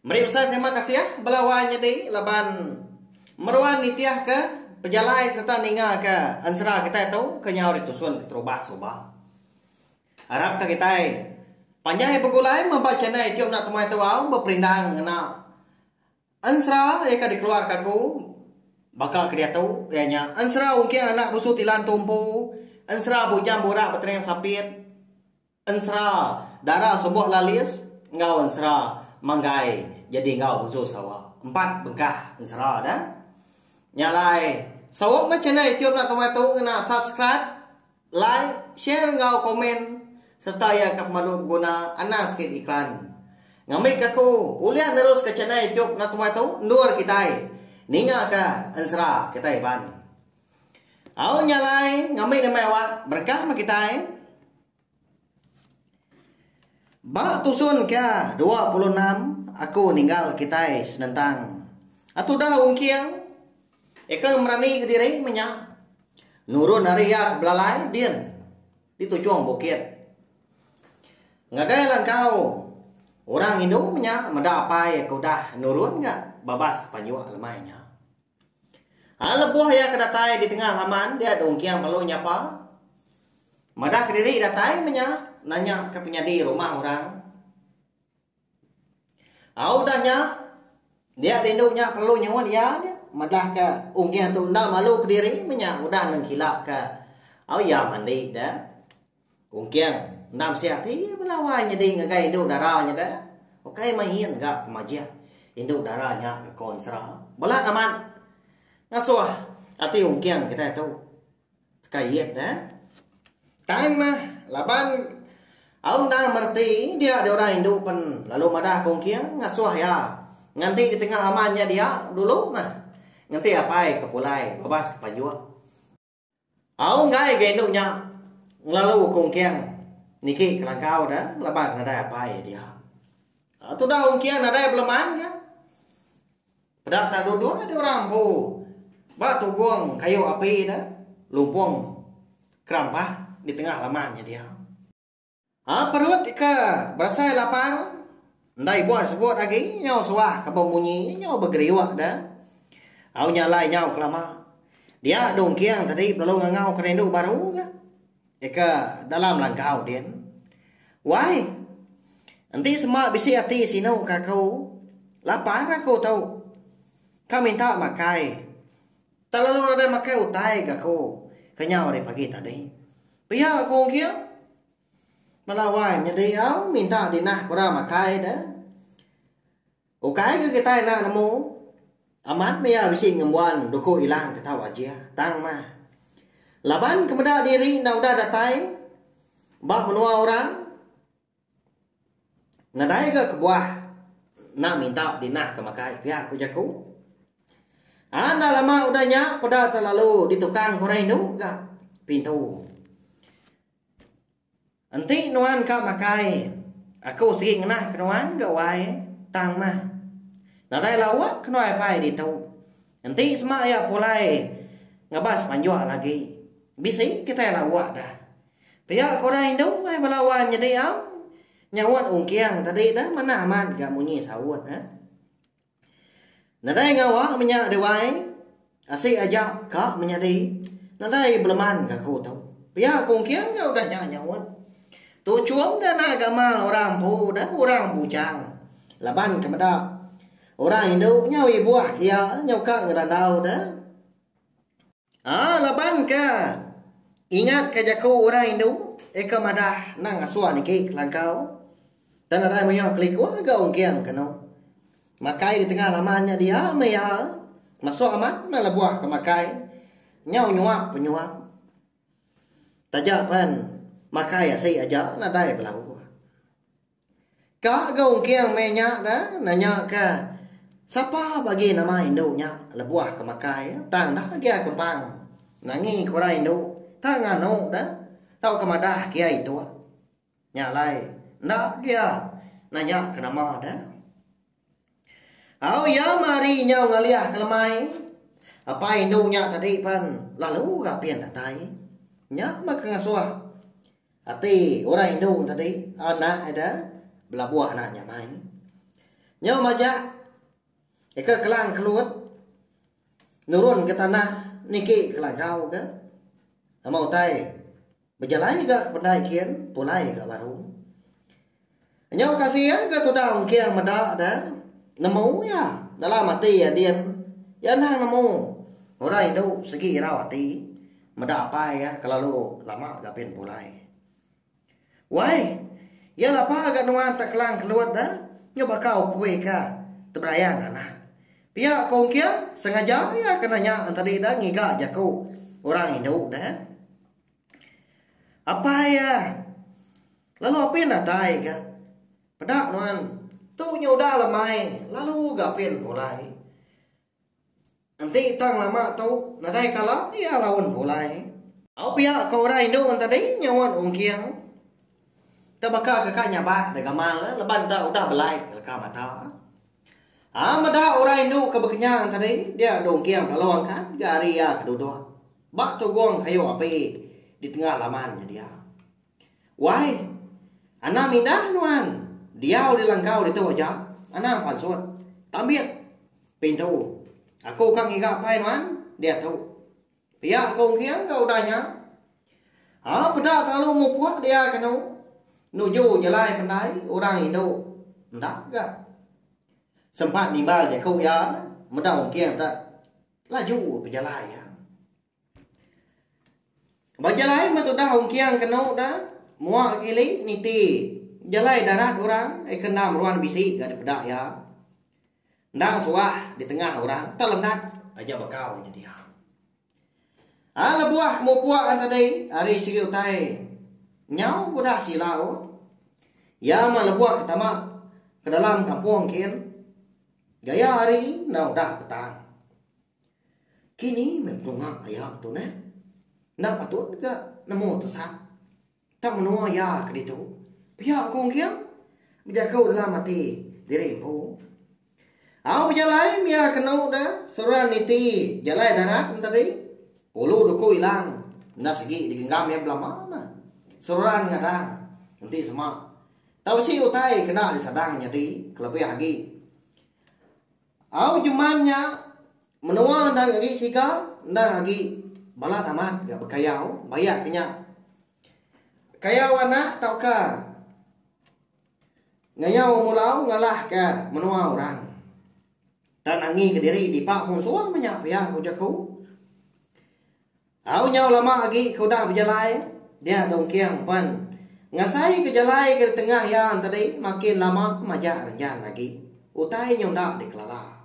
Meri besai terima kasih bala wai nyadi laban meruan nitihka pejalai sereta ningaka ensera kitai tu ke nyau ditusun keterubah suba. Arapka kitai panjai begulai meba channel YouTube enda temuai tebau beperindang ngena ensera iya ke dikeluarka aku baka ke diatu iya nya ensera uging anak busu tilan tumpu, ensera bujang burak betering sapit. Ensera, Dara Sebok Lalis enggau ensera Manggai jadi enggau Busu Sawa. Empat bengkah ensera da. Nya alai, saut meh channel YouTube enda tumai tu ngena subscribe, like, share enggau komen sereta iya ka pemadu beguna anang sikit iklan. Ngambika aku ulih neruska channel YouTube enda tumai tu endur kitai ningaka ensera kitai iban. Au nya alai ngambi nama awak berkah meh kitai. Ba tusun ke dua puluh enam aku ninggal kitai senentang a tudah ungking eka merani ke diri meh nya nurun ari iya ke belalai din di tujung bukit. Ngagai lah engkau orang indu meh nya meda apai ke udah nurun ga babas ke panjuk lemai nya. Ai lebuh iya ke datai di tengah laman dia Dong Kiang lalu nyapa madah kediri datai meh nya nanya ke penyadi rumah orang. Au udah nya dia dindu nya perlu nyuut iya nya madah ke Ong Kiang tu enda malu kediri meh nya udah nengkila ke au iya mandi da. Ungking, enda bisiah ti belawai nyadi ngagai indu dara nya da. Ukai main ga pemajih indu dara nya ga konsra. Bala amat ngasuh ati ungking kitai tu. Ka iyit da. Tang mah laban au enda mereti dia di orang indu pen lalu madah ka ungking ngasuh iya nganti di tengah aman nya dia dulu mah. Ngenti apai ke pulai babas ke pajuk. Au enggai ga indu nya ngelalu ku Engkiang niki kelangkau da laban nadai apai dia. Tudah Engkiang nadai beleman ga peda ka duduk adi orang empu ba tugong kayu api da lumpung kerampah di tengah laman nya dia. A Perut ke berasai lapar enda ibuh sebut agi nyau suah ke bemunyi nyau begeriuk da. Au nya alai nyau kelama. Dia Dong Kiang tadi belalu ngangau ke rindu baru ga. Ika dalam langkau din. Wai. Enti sema bisi ati sinu ka aku. Lapar aku tu. Ka minta makai. Telalu nadai makai utai ke aku kenyau ari pagi tadi. Pia aku engking. Bala wai nyadi au minta dinah kura makai de. Ukai ke kitai enda nemu. Amat mia bisi ngembuan duku ilang ke tau aja. Tang mah. Laban ke meda diri enda udah datai ba menua orang. Nadai ga kebuah enda minta dinah ke makai pia ku jaku. Anak enda lama udah nya peda telalu ditukang ke orang indu ga pintu. Enti nuan ka makai aku sigi ngenah ke nuan ga wai tang mah. Nadai lawa ke nuan apai ditu. Enti sema iya pulai ngabas manjok lagi bisi kitai lawa dah. Pia ku orang indu ai bala wan nyadi am nyaut ungking tadi dah manah amat ga munyi saut eh. Nadai ngawa menya Dewai asik aja ka menyadi nadai beleman gaku tu. Pia ku ungking ga udah nya nyaut. Tu chum dah anak gamal orang empu dah orang bujang laban ke meda orang indu nyau ibuh ke iya nyau ka ngerandau deh. Haa laban ka ingat ka jaku orang indu eka madah endang ngasuh niki kelangkau tang nadai mayuh keliku ga ungking kenu makai di tengah laman nya dia meh iya masuk amat meh lebuh ke makai nyau nyuap pe nyuap taja pan makai asi aja nadai belabuh. Ka ga ungking meh nya da nanya ka sapa bagi nama indu nya lebuh ka makai tang enda gia kempang nangi ka orang indu tang nganu da tau ka madah gia ituk nya alai enda gia nanya ka nama da Au iya mari nyau ngalih ke lemai. Apai indu nya tadi pan lalu rapin datai. Nya mega ngasuh ati orang indu tadi anak ida belabuh anak nya mai. Nyau majak ika kelang kelut nurun ke tanah niki ke lagau ke. Nama utai Bejalai ga ke pendai kin pulai ga baru. Nyau kasih iya ga tudah ungking meda da nemu iya dalam ati iya din iya anang nemu orang indu segi irau ati meda apai iya kelalu lama ga pin pulai. Wai iya lapa ga nuan ta Klang Kelut da nyu baka ukui ka teberayang anak. Pia ko ungking sengaja iya kena nya tadi da ngiga jaku orang indu da. Apai iya, lalu apin datai ka. Peda nuan, tu nya udah lah mai, lalu ga apin pulai. Enti tang lama tu nadai kala, iya laun pulai. Au pia ko orang indu tadi nyauan ungking. Tebaka kaka nyabak da gamal leban da udah belai leka mata. Aa meda orang indu ke bekenyang enti hari ini dia dong king lalu angkat ga hari iya ke duduk ba tugong kayu api di tenga laman nya dia. Wai anang indah nuan diau di langkau ditu aja anang pansut tambit pintu aku ka ngiga apai nuan diatu. Pia ko Engking ka utai nya. Aa peda telalu mupuk dia kenu nuju jalai pendai orang indu enda ga. Sempat nimbal jaku iya meda Engking te laju bejalai iya. Ba jalai meh tudah Engking kenu da mua ke kili niti jalai darat orang ekenda meruan bisi ga dipeda iya. Endang suah di tengah orang telenat aja bekau nya dia. A lebuh ke mupuk ngan tadi ari sigi utai nyau udah silau. Iya mah lebuh ke tama ke dalam kampung kin gaya hari enda udah petang. Kini meh penunga iya ke tu neh. Enda patut ga nemu tesat. Tang menua iya ke ditu, pia ku Ong Kiang bejaku dalam ati diri empu. Au bejalai mia kenu da seruran niti jalai darat enteri. Ulu duku ilang enda sigi digenggam iya belama mah. Seruran ngadang enti sema tau isi utai kena disadang nyadi kelebih agi. Au jeman nya menua endang agi siga endang agi balat amat ga bekayau bayak ke nya kayau anak tauka ngayau umur lau ngalah ke menua orang tang angi ke diri dipa mung suang meh nya pia ujar ku. Au nyau lama agi ke udah bejalai dia Dong Kiang pan ngasai ke jalai ke ditengah iya tadi makin lama majak renjan agi utai nyau enda dikelala.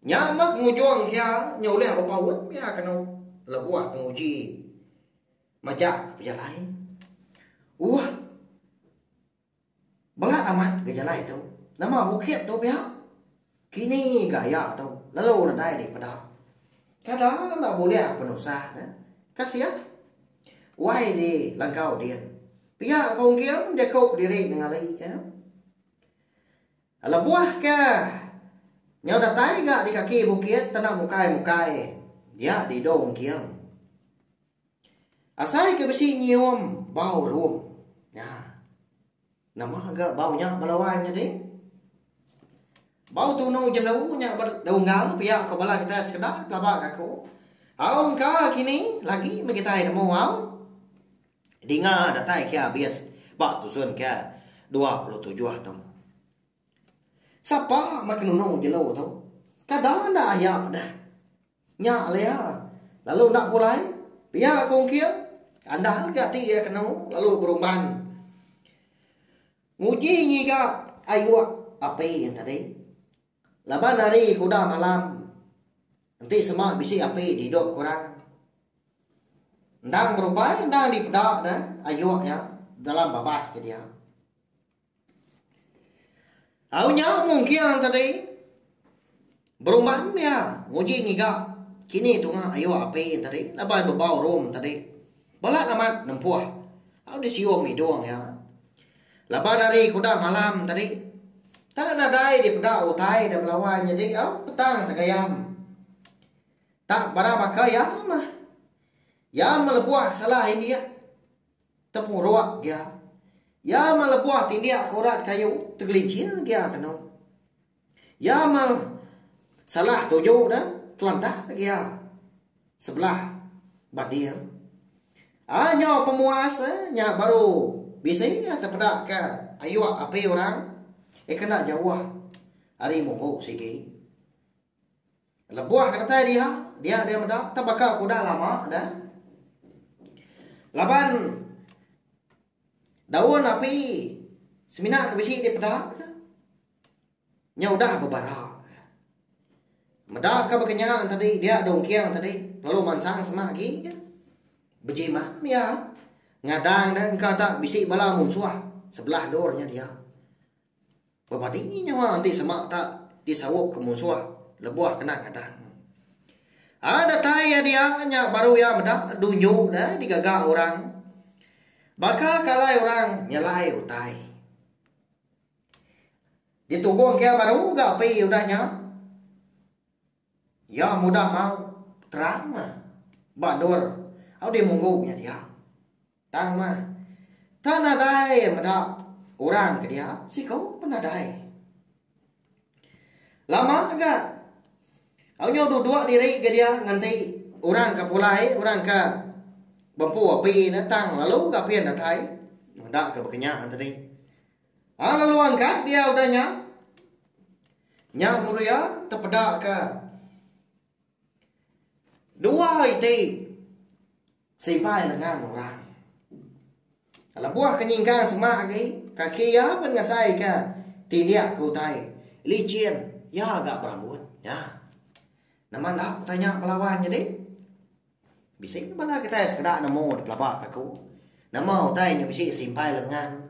Nya meh ngujung ke iya nyau ulih bepaut iya kenu lebuh penguji majak ke pejalai. Uhh. Bela amat ga jalai tu. Nama bukit tu pia? Kini ga iya tu lalu nadai dipeda. Kada enda bulih penusah ne. Kasih. Wai di langkau din. Pia ko engking jaku kediri nengali iya. Lebuh ke nyau datai ga di kaki bukit tanda mukai-mukai dia didu engking. Asai ke bisi nyium bau rum nya. Nama ga bau nya bala wai nyadi? Bau tunu jelu nya ba dau unggal pia ko bala kitai sekeda pelaba ga aku. Au engka kini lagi meh kitai nemu au. Dinga datai ke abis ba tusun ke dua puluh tujuh tu. Sapa meh ke nunu jelu tu? Kada enda aya deh. Nya Lea lalu enda pulai pia ke ungking, kandang lagi ati iya kenu lalu berumban nguji ngiga ayuk api yen tadi. Laban hari ke udah malam enti sema bisi api di idop ke orang. Endang berumbai endang dipeda ne ayuk iya dalam babas ke dia. Au nya mung kiang tadi. Berumban iya nguji ngiga kini tunga ayo api tadi laban bebau rum tadi. Balat amat nempuh au disiung idung iya. Laban ari ke udah malam tadi tang nadai dipeda utai da belawan jadi au petang tegayam. Tang barang baka iya mah. Iya melebuh salah indik. Tepuruk gia. Iya melebuh tindik ke urat kayu tegelincir gia ke anu. Iya me salah tuju ne kelantah gia sebelah banding. Ai nyau pemuas eh nya baru bisi tepeda ke ayuk api orang eh kena jauh ari munggu sigi. Lebuh ke datai dia, dia deh meda tang baka ku udah lama dah. Laban daun api semina ke bisi di peda ke nya udah bebara. Meda ka baka nya tadi dia dong king tadi lalu mansang sema agi ke bejimat iya ngadang deh engka tak bisi bala munsuh sebelah endur nya dia. Bemading nyawa enti sema ta disaup ke munsuh lebuh kena ngadang. Ai datai iya dia nya baru iya meda dunyu dai digaga orang. Baka ke alai orang nyelai utai. Ditubung ke iya baru ga api udah nya. Iya mudah mau terang mah ba endur au dimunggu nya dia. Tang mah, tang nadai meda orang ke dia siku pun nadai. Lama ga au nyau duduk diri ga dia nganti orang ke pulai, orang ke bempu api ne tang lalu ga pia datai. Enda ga bekenya tadi. Ha lalu angkat dia udah nya. Nya mulia tepeda ke. Dua iti. Simpai lengan orang. Kalau buah kenyingkang semak lagi. Kaki ya pun ngasai ke. Tindiak ke utai. Licin. Ya agak berambut. Ya. Nama nak tanya pelawan jadi. Bisi meh bala kitai sekeda nemu dipelabaka aku. Nama utai nya bisi simpai lengan.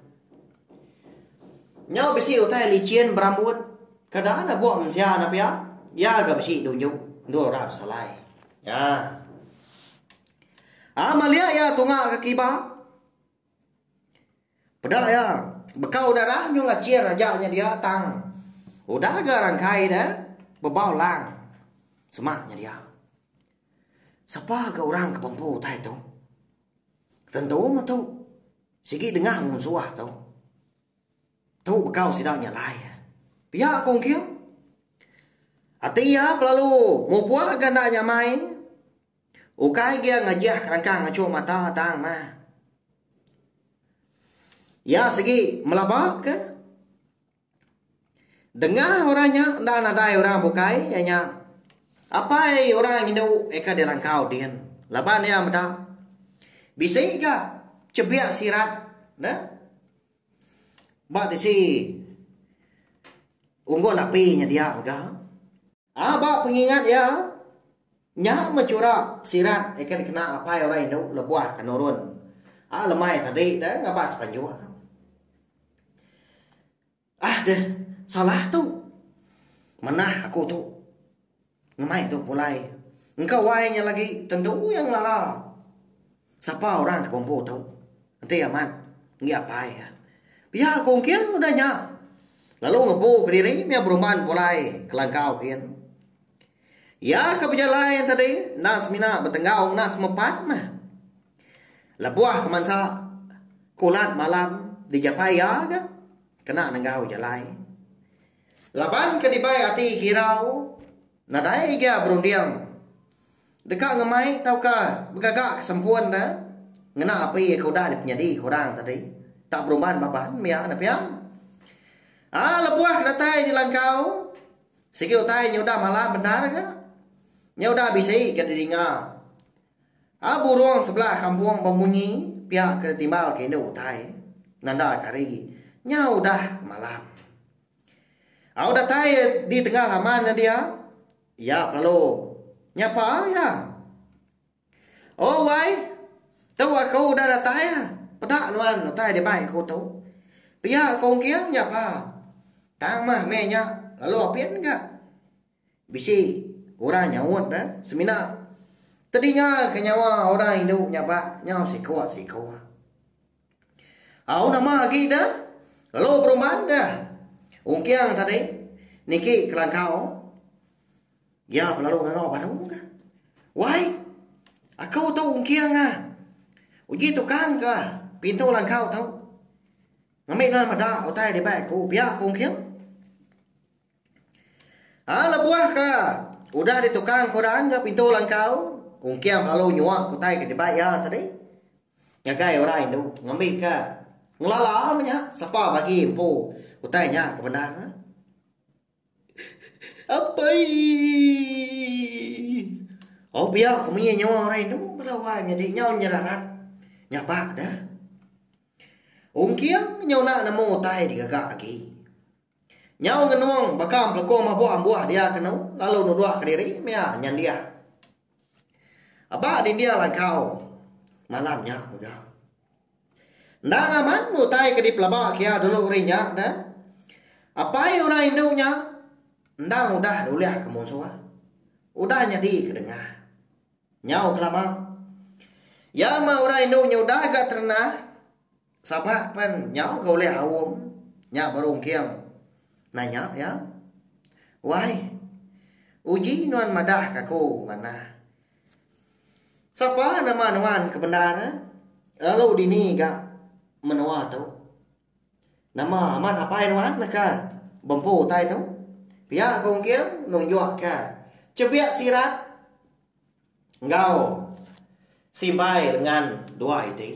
Nyau bisi utai lichin berambut. Kada ada buah mensia enda pia. Iya ga bisi dunjuk endur orang besalai. Ya. Ah malia iya tunga ke kiba. Peda iya, beka udah ra nyau ngachir aja nya dia tang udah ga rangkai ne bebau lang semak nya dia. Sapa ga orang ke bempu utai tu tentu meh tu sigi dengah ngunsuh tu. Tu beka sida nya alai. Pia ku engking ati iya pelalu mupuh ga enda nyamai. Ukai dia ngajah kerangkang ngachur mata tang mah. Iya sigi melaba ke dengah orang nya enda nadai orang bukai iya nya apai orang indu eka dilangkau din laban iya meda bisi ga chebik sirat neh ba tisi unggun api nya dia mega. A Ba pengingat iya, nya meh chura sirat ke dikena apai orang indu lebuh ke nurun a lemai tadi deh ngaban sepanjung. Ah deh, salah tu. Manah aku tu. Ngemai tu pulai. Engka wai nya lagi tentu iya ngelala. Sapa orang ti kompo tu? Enti amat enggi apai iya. Pia ku engking udah nya lalu ngempu kediri mih berumban pulai ke langkau gin. Iya ke bejalai tadi enda semina betenggau ngena semepat meh. Lebuh ke mansa kulat malam dijapai iya ga kena nenggau jalai. Laban ke dibai ati girau nadai iya berunding. Deka ngemai tauka begaga ke sempun da ngena api ke udah dipenyadi ke orang tadi tak berumban baban mia ne pia. Aa lebuh ke datai dilangkau sigi utai nya udah malam bendar ga. Nya udah bisi ga didinga aa burung sebelah kampung bemunyi pia ke ditimbal ke indu utai nanda ke hari nya udah malam. Au datai di tengah laman nya dia. Iya kelalu nyapa iya. Oh wai, tu aku udah datai. Peda nuan utai dibai aku tu. Pia aku engking nyapa. Tang mah meh nya lalu apin ga. Bisi orang nyaut dah semina tedinga ke nyawa orang indu nyapa nyau siko-siko. Au nama agi da lalu berumban da ungking tadi niki kelangkau iya pelalu ngangau baru ka. Wai aku tu ungking ah uji tukang ka pintu langkau tu ngambi nan meda utai dibai aku pia ku ungking. Ai lebuh ka udah ditukang ku dang ga pintu langkau ungking lalu nyuak utai ke dibai iya tadi. Ngagai orang indu ngambika ngelala ba nya sapa bagi empu utai nya ke bendar ne. Apai. Au pia ke mie nyawa orang indu bala wai nyadi nyau nyerarat. Nya ba da. Ungking nyau nak nemu utai digaga agi. Nyau ngenung baka empelekung mabuk ambuh dia kenu lalu nuduk kediri mea nyendiah. Aba dindir langkau malam nya mega. Endang amat utai ke dipelaba kia dulu hari nya dah. Apai orang indu nya endang udah dulih ke munsuh. Udah nyadi ke dengah. Nyau kelama. Iya mah orang indu nyudah ga terenah Sabak pen nyau ga ulih aum nya baru ungking. Nanya iya. Wai. Uji nuan madah ka aku manah. Sapa nama nuan ke bendar lalu dini ga menoa tu. Nama amat apai nuan neka bempu utai tu. Pia ka ungking nunjuk ka chebik sirat. Enggau simbai lengan duai ti.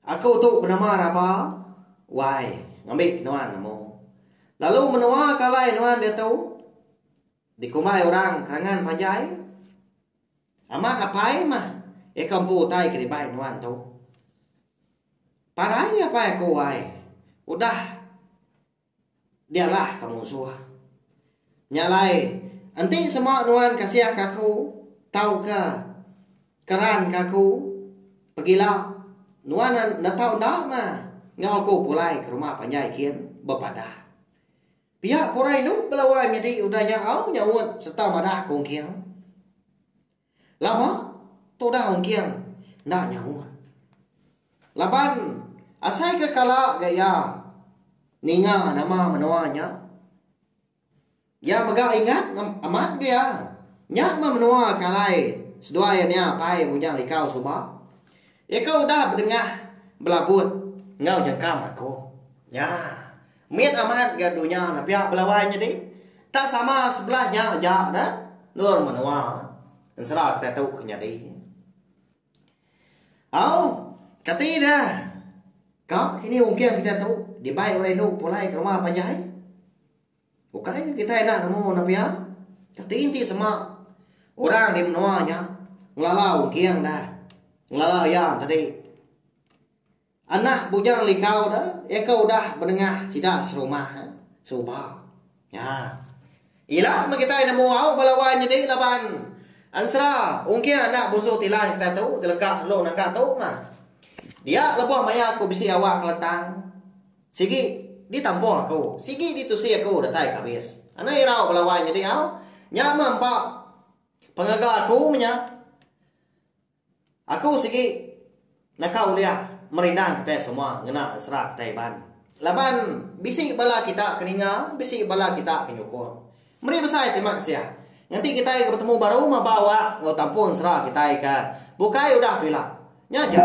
Aku tu benama Raba wai ngambi nuan amu. Lalu menua ke alai nuan diatu dikumbai orang Kerangan Panjai. Amat apai mah iya ke empu utai ke dibai nuan tu. Parai apai aku wai udah. Biarlah ke musuh. Nya alai, enti semua nuan kasihka aku tauka keranka aku pegila, nuan netau enda ma enggau aku pulai ke rumah panjai kin? bepadah. Pia ke orang indu belawa nyadi udah nyaau nyaut sereta madah kongking. Lama tudah ungking enda nyaut. Laban asai ke kala ga iya ninga nama menua nya, iya mega ingat amat ga iya nya meh menua ke alai seduai iya nya pai Bujang Likau suba. Iya ke udah bedengah belabut enggau jangka makuh. Nya. Mit amat ga dunya ne pia belawai nyadi. Tak sama sebelah nya aja da endur menua ensera kitai tu ke nyadi. Au, kati da ka kini ungking kitai tu dibai orang indu pulai ke rumah panjai? Ukai ke kitai enda nemu ne pia? Kati enti sema orang di menua nya ngelala ungking da ngelala iya enti tadi? Anak bujang Likau tu iya ke udah benengah sida serumah suba. Nya. Ila meh kitai nemu au ba lawan nyadi laban ensera ungking anak busu Tilai kitai tu jeleka lalu naga tu mah. Dia lebuh maya aku bisi awak kelentang sigi ditampung aku, sigi ditusi aku datai ke abis. Anang irau ba lawan nyadi au. Nya meh empa pengaga aku meh nya. Aku sigi naka ulih merindang kitai semua ngena ensera kitai Iban. Laban bisi bala kita ke ninga, bisi bala kita ke nyukung. Meri besai terima kasih ngenti kitai ke betemu baru maba awak enggau tampung ensera kitai ke bukai udah tu ila. Nya ja.